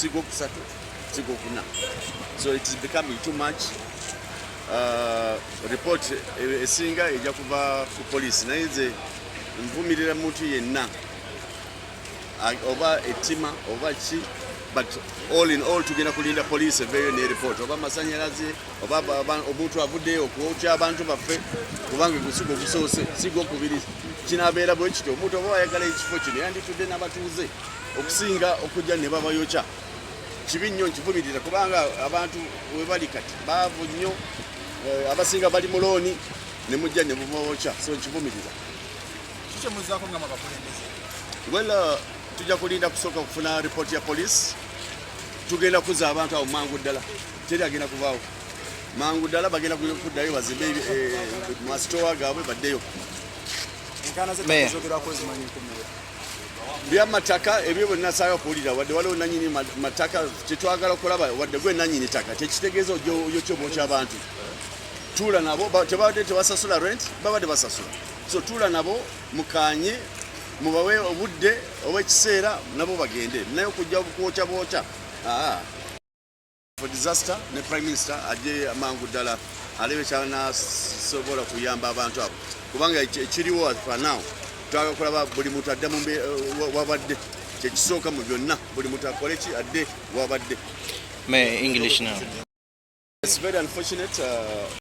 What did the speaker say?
Sigo kusatu, sigo kuna. So it is becoming too much. Uh, report eh, esinga eja kuva ku police naye nze nvumirira muntu yenna oba ettima oba ki but all in all tugenda kulinda police eveeyo ne report oba amasanyalaze oba omuntu avuddeyo okwokya abantu baffe kubanga gusiga ogusoose sigwokubiri kinabeera bwekityo omuntu oba wayagala ekifo kino yanditudde n'abatuuze okusinga okujja ne babayokya kibi nnyo nkivumirira kubanga abantu webali kati baavu nnyo eh, abasinga bali mu looni ne mujja ne bubawokya so nkivumirira well uh, tujja kulinda kusooka kufuna ripooti ya poliisi tugenda kuza abantu awo mangu ddala teri agenda kuvaawo mangu ddala bagenda kuddayo bazimbe eh, masitowa gaabwe baddeyo byamataka ebyo bwenasaayo okuwulira wadde waliwo nanyini mataka kyetwagala okulaba wadde gwe nanyini taka kyekitegeeza oyokyoma okyabantu tuula nabo tebabadde tebasasula rent babadde basasula so tuula nabo mukanye mubawe obudde oba ekiseera nabo bagende naye okujja kuwokya bwokya for disaster ne prime minister ajje amangu ddala alebe kyanasobola kuyamba abantu abo kubanga ekiriwo fanawo twagala kulaba buli muntu adde mu eh, wabadde kyekisooka mu byonna buli muntu akole ki adde wabadde It's very unfortunate. Uh...